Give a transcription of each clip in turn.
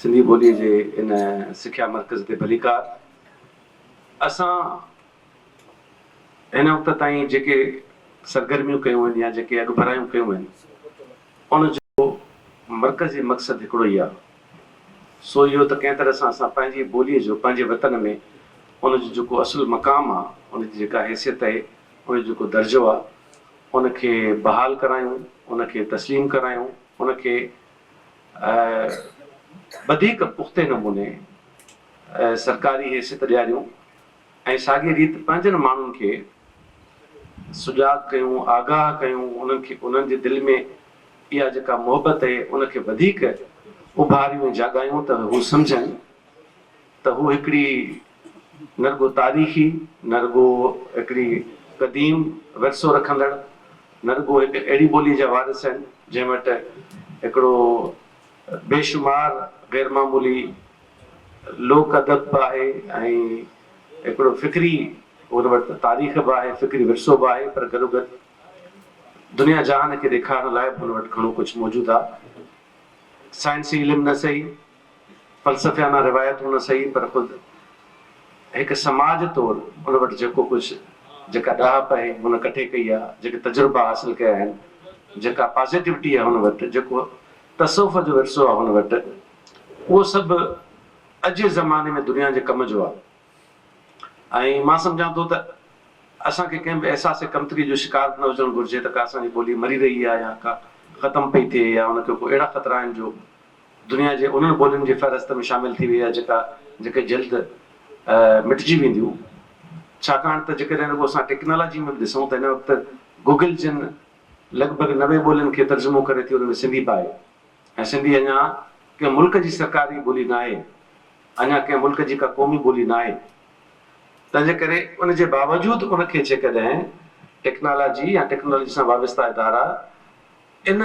سنڌي ٻوليء جي ان سکيا مرڪز تي ڀليڪار اسان هن وقت تائين جيڪي سرگرميون ڪيون آهن يا جيڪي اڳڀرايون ڪيون آهن ان جو مرڪزي مقصد هڪڙو ئي آهي سو اهو ته ڪنهن طرح سان اسان پنهنجي ٻوليء جو پنهنجي وطن ۾ ان جو جيڪو اصل مقام آهي ان جي جيڪا حيثيت اهي ان جو جيڪو درجو آهي ان کي بحال ڪرايون ان کي تسليم ڪرايون ان کي وڌيڪ پختي نموني سرڪاري حيثيت ڏياريون ۽ ساڳي ريت پنهنجن ماڻهن کي سجاڳ ڪيون، آگاهه ڪيون، انهن کي انهن جي دل ۾ اها جيڪا محبت اهي ان کي وڌيڪ اڀاريون ۽ جاڳايون ته هو سمجهن. ته هو هڪڙي نه رڳو تاريخي، نه رڳو هڪڙي قديم ورثو رکندڙ، نه رڳو هڪ اهڙي ٻولي جا وارث آهن، جنهن وٽ هڪڙو بيشمار غيرمعمولي لوڪ ادب به آهي ۽ هڪڙو فڪري هن وٽ تاريخ به آهي، فڪري ورثو به آهي، پر گڏوگڏ دنيا جهان کي ڏيکارڻ لاء به هن وٽ گهڻو ڪجهه موجود آهي. سائنسي علم نه سهي، فلسفيانه روايتون نه سهي پر خود هڪ سماج طور ان وٽ جيڪو ڪجهه، جيڪا ڏاهپ اهي هن ڪٺي ڪئي آهي، جيڪي تجربا حاصل ڪيا آهن، جيڪا پازيٽوٽي آهي هن وٽ، جيڪو تصوف جو ورثو آهي هن وٽ، اهو سڀ اڄ جي زماني ۾ دنيا جي ڪم جو آهي ۽ مان سمجهان ٿو ته اسان کي ڪنهن به احساس ڪمتري جو شڪار نه هجڻ گهرجي ته ڪا اسان جي ٻولي مري رهي آهي يا ڪا ختم پئي ٿئي يا ان کي ڪو اهڙا خطرا آهن جو دنيا جي انهن ٻولين جي فهرست ۾ شامل ٿي وئي آهي جيڪا جيڪي جلد مٽجي وينديون ڇاڪاڻ ته جيڪڏهن رڳو اسان ٽيڪنالاجي ۾ به ڏسون ته هن وقت گوگل جن لڳ ڀڳ نوي ٻولين کي ترجمو ڪري ٿي ان ۾ سنڌي به آهي ۽ سنڌي اڃا ڪنهن ملڪ جي سرڪاري ٻولي ناهي اڃا ڪنهن ملڪ جي ڪا قومي ٻولي ناهي تنهن جي ڪري ان جي باوجود ان کي جيڪڏهن ٽيڪنالاجي يا ٽيڪنالاجي سان وابسته ادارا ان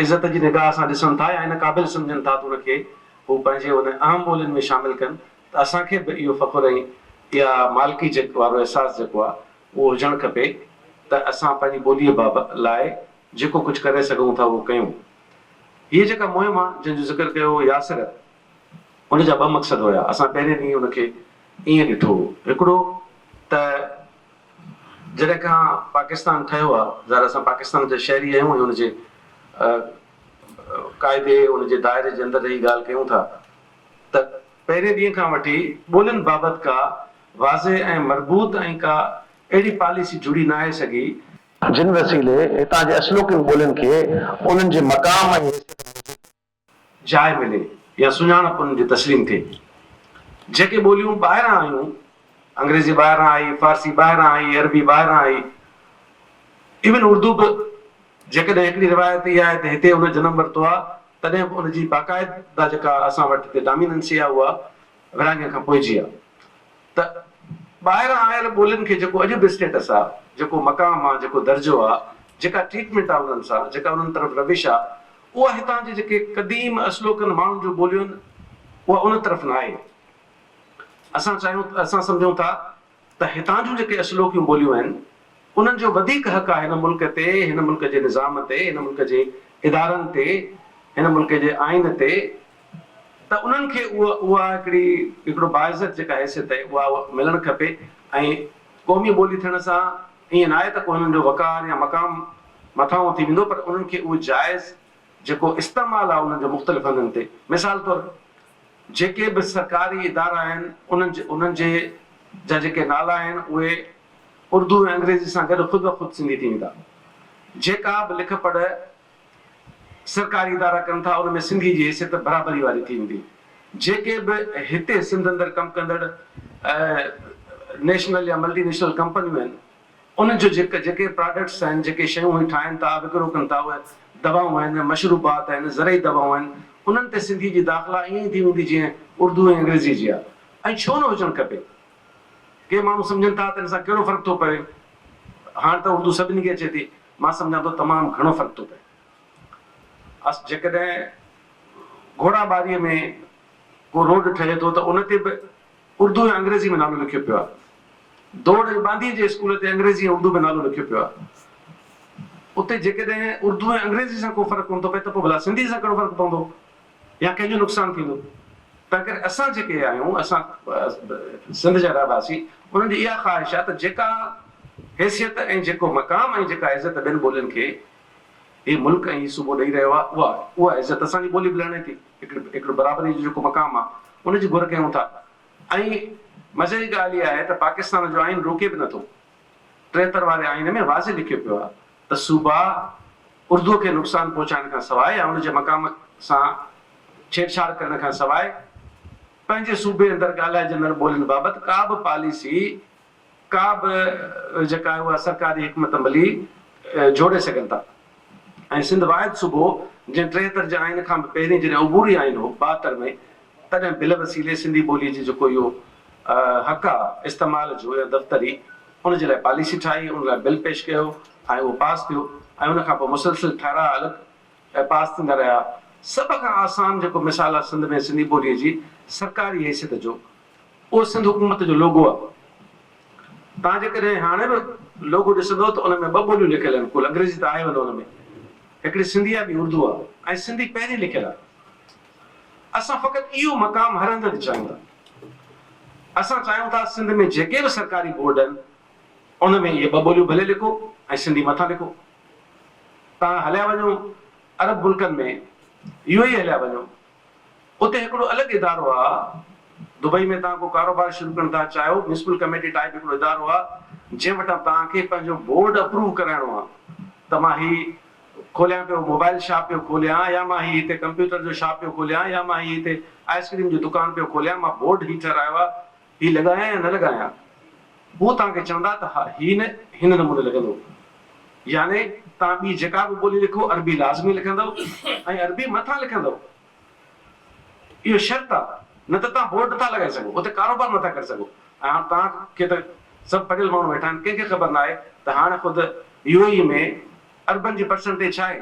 عزت جي نگاهه سان ڏسن ٿا يا ان قابل سمجهن ٿا ته ان کي هو پنهنجي ان اهم ٻولين ۾ شامل ڪن ته اسان کي به اهو فخر ۽ اها مالڪي جيڪ وارو احساس جيڪو آهي اهو هجڻ کپي ته اسان پنهنجي ٻوليء باب لاء جيڪو ڪجهه ڪري سگهون ٿا اهو ڪيون. هيء جيڪا مهم آهي جنهن جو ذڪر ڪيو هو ياسر ان جا ٻه مقصد هيا. اسان پهرين ڏينهن ان کي ائين ڏٺو هو. هڪڙو ته جڏهن کان پاڪستان ٺهيو آهي، ظاهر اسان پاڪستان جا شهري آهيون ۽ ان جي قاعدي، ان جي دائري جي اندر رهي ڳالهه ڪيون ٿا ته پهرين ڏينهن کان وٺي ٻولين بابت ڪا واضح ۽ مربوط ۽ ڪا اهڙي پاليسي جڙي ناهي سگهي، جن وسيلي هتان جي اصلوڪين ٻولين کي انهن جي مقام ۽ حيثيت موجب جاء ملي يا سڃاڻپ انهن جي تسليم ٿئي. جيڪي ٻوليون ٻاهران آيون، انگريزي ٻاهران آئي، فارسي ٻاهران آئي، عربي ٻاهران آئي، ايون اردو به جيڪڏهن هڪڙي روايت اها آهي ته هتي ان جنم ورتو آهي، تڏهن به ان جي باقاعده جيڪا اسان وٽ هتي ڊاميننسي آهي اها ورهاڱي کان پوء جي آهي ته ٻاهران آيل ٻولين کي جيڪو اڄ به اسٽيٽس آهي، جيڪو مقام آهي، جيڪو درجو آهي، جيڪا ٽريٽمينٽ آهي انهن سان، جيڪا انهن طرف روش آهي، اها هتان جي جيڪي قديم اصلوڪن ماڻهن جون ٻوليون اها ان طرف نه آهي. اسان چاهيون ته اسان سمجهون ٿا ته هتان جون جيڪي اصلوڪيون ٻوليون آهن انهن جو وڌيڪ حق آهي هن ملڪ تي، هن ملڪ جي نظام تي، هن ملڪ جي ادارن تي، هن ملڪ جي آئين تي ته انهن کي اها اها هڪڙي هڪڙو باعزت جيڪا حيثيت اها اها ملڻ کپي ۽ قومي ٻولي ٿيڻ سان ائين ناهي ته ڪو هنن جو وقار يا مقام مٿانهون ٿي ويندو پر انهن کي اهو جائز جيڪو استعمال آهي انهن جو مختلف هنڌن تي مثال طور جيڪي به سرڪاري ادارا آهن انهن جي انهن جي جا جيڪي نالا آهن اهي اردو ۽ انگريزي سان گڏ خود بخود سنڌي ٿي ويندا جيڪا به لک پڙهه سرڪاري ادارا ڪن ٿا ان ۾ سنڌي جي حيثيت برابري واري ٿي ويندي جيڪي به هتي سنڌ اندر ڪم ڪندڙ نيشنل يا ملٽي نيشنل ڪمپنيون آهن انهن جو جيڪي جيڪي پراڊڪٽس آهن جيڪي شيون هي ٺاهن ٿا وڪرو ڪن ٿا اهي دوائون آهن مشروبات آهن زرعي دوائون آهن انهن تي سنڌي جي داخلا ائين ئي ٿي ويندي جيئن اردو ۽ انگريزي جي آهي ۽ ڇو نه هجڻ کپي ڪي ماڻهو سمجهن ٿا ته ان سان ڪهڙو فرق ٿو پوي هاڻ ته اردو سڀني کي اچي ٿي مان سمجهان ٿو تمام گهڻو فرق ٿو پئي. اس جيڪڏهن گهوڙا ٻاريء ۾ ڪو روڊ ٺهي ٿو ته ان تي به اردو ۽ انگريزيء ۾ نالو لکيو پيو آهي. دوڙ ۽ ٻانڌيء جي اسڪول تي انگريزيء ۽ اردو ۾ نالو لکيو پيو آهي. اتي جيڪڏهن اردو ۽ انگريزيء سان ڪو فرق ڪونه ٿو پئي ته پوء ڀلا سنڌيء سان ڪهڙو فرق پوندو؟ يا ڪنهن جو نقصان ٿيندو ته ڪري اسان جيڪي آهيون اسان سنڌ جا رهواسي انهن جي اها خواهش آهي ته جيڪا حيثيت ۽ جيڪو مقام ۽ جيڪا عزت ٻين ٻولين کي هي ملڪ ۽ هي صوبو ڏئي رهيو آهي اها اها عزت اسان جي ٻولي به لهڻي ٿي هڪڙي هڪڙي برابري جو جيڪو مقام آهي ان جي گهر ڪيون ٿا ۽ مزي جي ڳالهه اها آهي ته پاڪستان جو آئين روڪي به نٿو ٽيهتر واري آئين ۾ واضح لکيو پيو آهي ته صوبا اردوء کي نقصان پهچائڻ کان سواء يا ان جي مقام سان ڇيڙ ڇاڙ ڪرڻ کان سواء پنهنجي صوبي اندر ڳالهائجندڙ ٻولين بابت ڪا به پاليسي ڪا به جيڪا آهي اها سرڪاري حڪمت عملي جوڙي سگهن ٿا ۽ سنڌ واحد صوبو جنهن ٽيهتر جي آئين کان به پهرين جڏهن عبوري آئين هو ٻاهتر ۾ تڏهن بل وسيلي سنڌي ٻولي جي جيڪو اهو حقا استعمال جو هيء دفتر ئي ان جي لاء پاليسي ٺاهي، ان لاء بل پيش ڪيو ۽ اهو پاس ٿيو ۽ ان کان پوء مسلسل ٺهراء الڳ پاس ٿيندا رهيا. سڀ کان آسان جيڪو مثال آهي سنڌ ۾ سنڌي ٻوليء جي سرڪاري حيثيت جو، اهو سنڌ حڪومت جو لوگو آهي. توهان جيڪڏهن هاڻي به لوگو ڏسندؤ ته ان ۾ ٻه ٻوليون لکيل آهن، ڪل انگريزي ته آهي ان ان ۾ هڪڙي سنڌي آهي ٻي اردو آهي ۽ سنڌي پهرين لکيل آهي. اسان فقط اهو مقام هر هنڌ تي چاهيون ٿا. اسان چاهيون ٿا سنڌ ۾ جيڪي به سرڪاري بورڊ آهن ان ۾ اهي ٻه ٻوليون ڀلي لکو ۽ سنڌي مٿان لکو. توهان هليا وڃو عرب ملڪن ۾ يو اي اي هليا وڃو اتي هڪڙو الڳ ادارو آ دبئي ۾ توهان ڪو ڪاروبار شروع ڪرڻ ٿا چاهيو ميونسپل ڪميٽي ٽائيپ هڪڙو ادارو آ جنهن وٽان توهان کي پنهنجو بورڊ اپروو ڪرائڻو آ ته مان هي کوليان پيو موبائل شاپ پيو کوليان يا مان هي هتي ڪمپيوٽر جو شاپ پيو کوليان يا مان هي هتي آئس ڪريم جو دڪان پيو کوليان مان بورڊ هي ٺهرايو آ هي لڳايان يا نه لڳايان هو توهان کي چوندا ته ها هي نه هن نموني لڳندو يعني توهان ٻي جيڪا به ٻولي لکو عربي لازمي لکندؤ ۽ عربي مٿان لکندؤ. اهو شرط آ نه ته توهان بورڊ نٿا لڳائي سگهو اتي ڪاروبار نٿا ڪري سگهو ۽ هاڻ توهان کي ته سڀ پڙهيل ماڻهو ويٺا آهن ڪنهن کي خبر ناهي ته هاڻ خود يو اي اي ۾ عربن جي پرسنٽيج ڇا آهي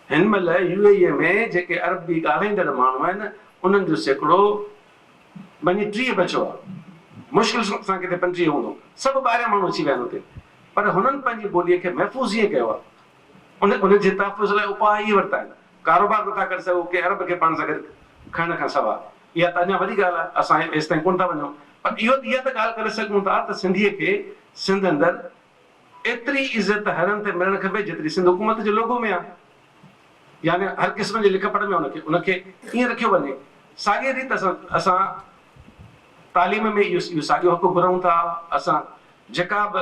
هن مهل يو اي اي ۾ جيڪي عربي ڳالهائيندڙ ماڻهو آهن انهن جو سيڪڙو ٻني ٽيهه بچيو آ مشڪل سان ڪٿي پنجٽيهه هوندو سڀ ٻاهريان ماڻهو اچي ويا آهن اتي پر هنن پنهنجي ٻولي کي محفوظ ائين ڪيو آ ان جي تحفظ لاء اپاء اهي ورتا آهن، ڪاروبار نٿا ڪري سگهون، ڪنهن عرب کي پاڻ سان گڏ کڻڻ کان سواء. اها ته اڃا وڏي ڳالهه آهي، اسان ايستائين ڪونه ٿا وڃون، پر اهو ته اها ته ڳالهه ڪري سگهون ٿا ته سنڌيء کي سنڌ اندر ايتري عزت هرڻ تي ملڻ کپي، جيتري سنڌ حڪومت جي لوگو ۾ آهي. يعني هر قسم جي لک پڙهه ۾ ان کي ان کي ائين رکيو وڃي. ساڳيء ريت اسان اسان تعليم ۾ اهو اهو ساڳيو حق گهرون ٿا. اسان جيڪا به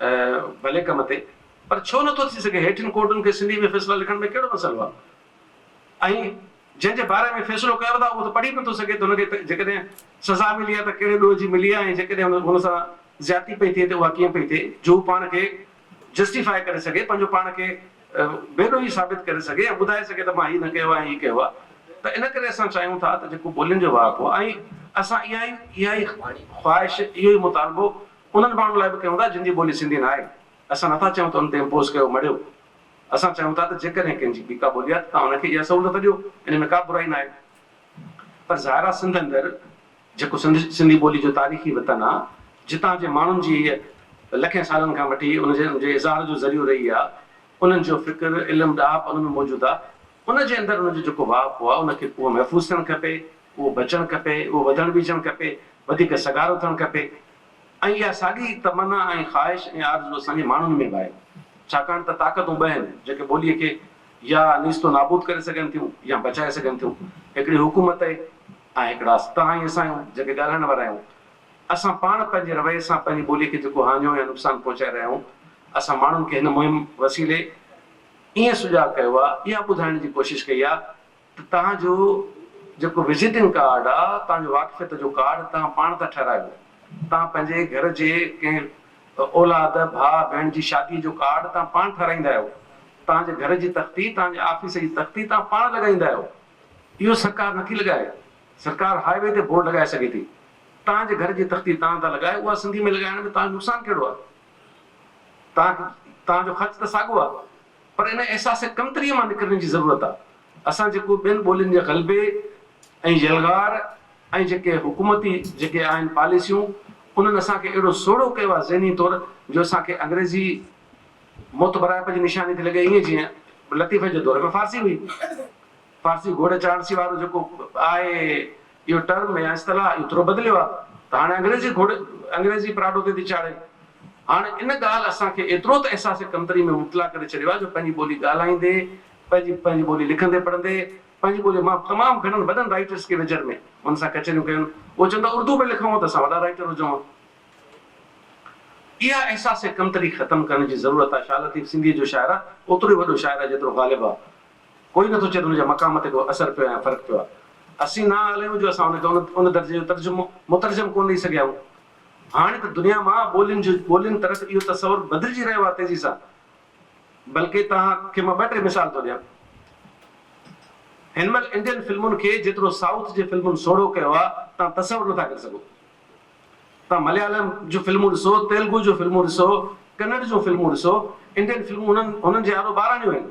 ڀلي ڪم تي پر ڇو نه ٿو ٿي سگهي؟ هيٺين ڪورٽن کي سنڌي ۾ فيصلا لکڻ ۾ ڪهڙو مسئلو آهي؟ ۽ جنهن جي باري ۾ فيصلو ڪيو اٿا اهو ته پڙهي به نٿو سگهي ته هن کي جيڪڏهن سزا ملي آهي ته ڪهڙي ڏوهه جي ملي آهي ۽ جيڪڏهن هن سان زيادتي پئي ٿئي ته اها ڪيئن پئي ٿئي جو هو پاڻ کي جسٽيفاء ڪري سگهي پنهنجو پاڻ کي بي ڏوهي ثابت ڪري سگهي ۽ ٻڌائي سگهي ته مان هي نه ڪيو آهي هي ڪيو آهي ته ان ڪري اسان چاهيون ٿا ته جيڪو ٻولين جو واهپو ۽ اسان اها ئي اها ئي خواهش اهو ئي مطالبو انهن ماڻهن لاء به ڪيون ٿا جن جي ٻولي سنڌي نه آهي. اسان نٿا چاهيون ته ان تي امپوز ڪيو مڙهيو. اسان چاهيون ٿا ته جيڪڏهن ڪنهن جي ٻي ڪا ٻولي آهي ته توهان ان کي اها سهولت ڏيو ان ۾ ڪا برائي نه آهي. پر ظاهر آهي سنڌ اندر جيڪو سنڌ سنڌي ٻولي جو تاريخي وطن آهي جتان جي ماڻهن جي هيء لکين سالن کان وٺي ان جي ان جي اظهار جو ذريعو رهي آهي انهن جو فڪر، علم، ڏاهپ ان ۾ موجود آهي ان جي اندر ان جو جيڪو واهپو آهي ان کي ڪوهه محفوظ ٿيڻ کپي. اهو بچڻ کپي، اهو وڌڻ ٻيجڻ کپي، وڌيڪ سگهارو ٿيڻ کپي ۽ اها ساڳي تمنا ۽ خواهش ۽ آرزو اسان جي ماڻهن ۾ به آهي. ڇاڪاڻ ته طاقتون ٻه آهن، جيڪي ٻوليء کي يا نيست و نابود ڪري سگهن ٿيون يا بچائي سگهن ٿيون، هڪڙي حڪومت آهي ۽ هڪڙا توهان ۽ اسان آهيون، جيڪي ڳالهائڻ وارا آهيون. اسان پاڻ پنهنجي رويي سان پنهنجي ٻوليء کي جيڪو هاڃو يا نقصان پهچائي رهيا آهيون، اسان ماڻهن کي هن مهم وسيلي ائين سجاڳ ڪيو آهي، اها ٻڌائڻ جي ڪوشش ڪئي آهي، ته توهان جو جيڪو وزيٽنگ ڪارڊ آ، توهان جو واقفيت جو ڪارڊ توهان پاڻ ٿا ٺهرايو. توهان پنهنجي گهر جي ڪنهن اولاد، ڀاء، ڀيڻ جي شاديء جو ڪارڊ توهان پاڻ ٺهرائيندا آهيو. توهان جي گهر جي تختي، توهان جي آفيس جي تختي توهان پاڻ لڳائيندا آهيو. اهو سرڪار نه ٿي لڳائي. سرڪار هاء وي تي بورڊ لڳائي سگهي ٿي. توهان جي گهر جي تختي توهان ٿا لڳايو، اها سنڌيء ۾ لڳائڻ ۾ توهان جو نقصان ڪهڙو آ؟ توهان جو خرچ ته ساڳو آ. پر ان احساس ڪمتريء مان نڪرڻ جي ضرورت آ. اسان جيڪو ٻين ٻولين جي غلبي ۽ يلغار ۽ جيڪي حڪومتي جيڪي آهن پاليسيون انهن اسان کي اهڙو سوڙهو ڪيو آ ذهني طور جو اسان کي انگريزي معتبرائپ جي نشاني ٿي لڳي ائين جيئن لطيفي جي دور ۾ فارسي هئي. فارسي گهوڙي چاڙهسي وارو جيڪو آهي. اهو ٽرم يا اصطلاح اڄ ٿورو بدليو آهي ته هاڻي انگريزي گهوڙي انگريزي پراڏو تي ٿي چاڙهي. هاڻ ان ڳالهه اسان کي ايترو ته احساس ڪمتري ۾ مبتلا ڪري ڇڏيو آهي جو پنهنجي ٻولي ڳالهائيندي، پنهنجي پنهنجي ٻولي لکندي پڙهندي، پنهنجي ٻولي مان تمام گهڻن وڏن رائيٽرس کي ويجهڙ ۾ هن سان ڪچهريون ڪيون اهي چون ٿا اردو ۾ لکون ها ته اسان وڏا رائيٽر هجون ها. اها احساس ڪمتري ختم ڪرڻ جي ضرورت آهي. شاهه لطيف سنڌيء جو شاعر آهي، اوترو ئي وڏو شاعر آهي جيترو غالب آهي. ڪوئي نٿو چئي ته ان جا مقام تي ڪو اثر پيو آهي يا فرق پيو آهي. اسين نااهل آهيون جو اسان ان کي ان درجي جو ترجمو، مترجم، ڪونه ڏئي سگهيا آهيون. هاڻي ته دنيا مان ٻولين جو ٻولين طرف اهو تصور بدلجي رهيو آهي تيزي سان. بلڪه توهان کي مان ٻه ٽي مثال ٿو ڏيان. هن مهل انڊين فلمن کي جيترو سائوٿ جي فلمن سوڙهو ڪيو آهي توهان تصور نٿا ڪري سگهو. توهان مليالم جون فلمون ڏسو، تيلگو جون فلمون ڏسو، ڪنڙ جون فلمون ڏسو، انڊين فلمون هنن هنن جي آڏو ٻاراڻيون آهن.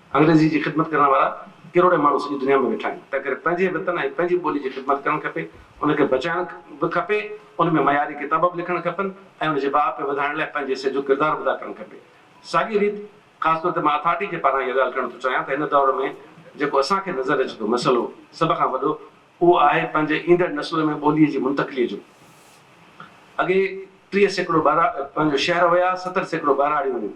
انگريزي جي خدمت ڪرڻ وارا ڪروڙين ماڻهو سڄي دنيا ۾ ويٺا آهن، تنهنڪري پنهنجي وطن ۽ پنهنجي ٻولي جي خدمت ڪرڻ کپي، ان کي بچائڻ به کپي، ان ۾ معياري ڪتاب به لکڻ کپن ۽ ان جي باهه پي وڌائڻ لاء پنهنجي حصي جو ڪردار به ادا ڪرڻ کپي. ساڳيء ريت خاص طور تي مان اٿارٽي جي پاران اها ڳالهه ڪرڻ ٿو چاهيان ته هن دور ۾ جيڪو اسان کي نظر اچي ٿو مسئلو سڀ کان وڏو اهو آهي پنهنجي ايندڙ نسل ۾ ٻوليء جي منتقليء جو. اڳي ٽيهه سيڪڙو ٻهراڙيون پنهنجو شهر هيا، ستر سيڪڙو ٻهراڙيون هيون.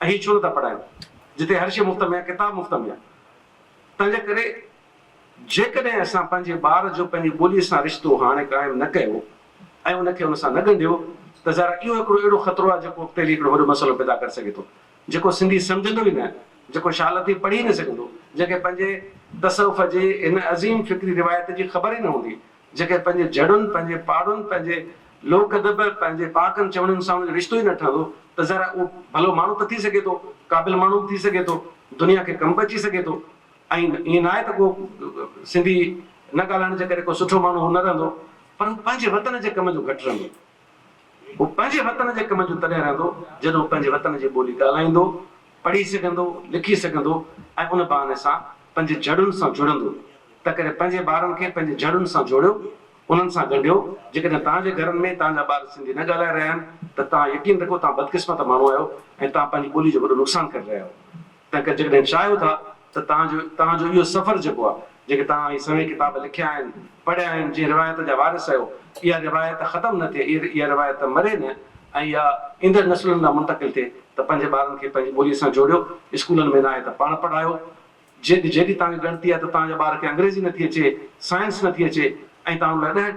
اھي ڇو نٿا پڙھائين جتي ھر شيء مفت ۾ آھي، ڪتاب مفت ۾ آھي. تنھنجي ڪري جيڪڏھن اسان پنھنجي ٻار جو پنھنجي ٻوليء سان رشتو ھاڻي قائم نه ڪيو ۽ ان کي ان سان نه ڳنڍيو ته ظاھر آھي اھو ھڪڙو اھڙو خطرو آھي جيڪو اڳتي ھلي ھڪڙو وڏو مسئلو پيدا ڪري سگھي ٿو جيڪو سنڌي سمجھندو ئي نه جيڪو شھالتي پڙھي ئي نه سگھندو جنھن کي پنھنجي تصوف جي ھن عظيم فڪري روايت جي خبر ئي نه ھوندي جيڪڏهن پنهنجي جهڙن، پنهنجي پاڙن، پنهنجي لوڪ ادب، پنهنجي پاڪن چوڻين سان ان جو رشتو ئي نه ٺهندو ته ظاهر آهي اهو ڀلو ماڻهو ته ٿي سگهي ٿو، قابل ماڻهو به ٿي سگهي ٿو، دنيا کي ڪم به اچي سگهي ٿو ۽ ائين ناهي ته ڪو سنڌي نه ڳالهائڻ جي ڪري ڪو سٺو ماڻهو هو نه رهندو پر هو پنهنجي وطن جي ڪم جو گهٽ رهندو. هو پنهنجي وطن جي ڪم جو تڏهن رهندو، جڏهن هو پنهنجي وطن جي ٻولي ڳالهائيندو، پڙهي سگهندو، لکي سگهندو ۽ ان بهاني سان پنهنجي جڙن سان جڙندو. تنهنڪري پنهنجي ٻارن کي پنهنجي جڙن سان جوڙيو، انهن سان ڳنڍيو. جيڪڏهن توهان جي گهرن ۾ توهان جا ٻار سنڌي نه ڳالهائي رهيا آهن ته توهان يقين رکو توهان بدقسمت ماڻهو آهيو ۽ توهان پنهنجي ٻولي جو وڏو نقصان ڪري رهيا آهيو. تنهن ڪري جيڪڏهن چاهيو ٿا ته توهان جو توهان جو اهو سفر جيڪو آهي، جيڪي توهان هي سوين ڪتاب لکيا آهن، پڙهيا آهن، جنهن روايت جا وارث آهيو، اها روايت ختم نه ٿئي، اها روايت مري نه ۽ اها ايندڙ نسلن ڏانهن منتقل ٿئي ته پنهنجي ٻارن کي پنهنجي ٻوليء سان جوڙيو، اسڪولن ۾ ناهي ته پاڻ پڙهايو. جيڏي جيڏي توهان کي ڳڻتي آهي ته توهان جي ٻار کي انگريزي نٿي اچي، سائنس نٿي اچي ۽ توهان ان لاء ڏهه.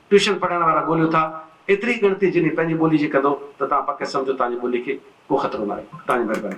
ٽيوشن پڙهائڻ وارا ڳوليو ٿا ايتري ڳڻتي جنهن پنهنجي ٻولي جي ڪندو ته توهان پڪ سمجهو توهان جي ٻولي کي ڪو خطرو ناهي توهان جي مهرباني.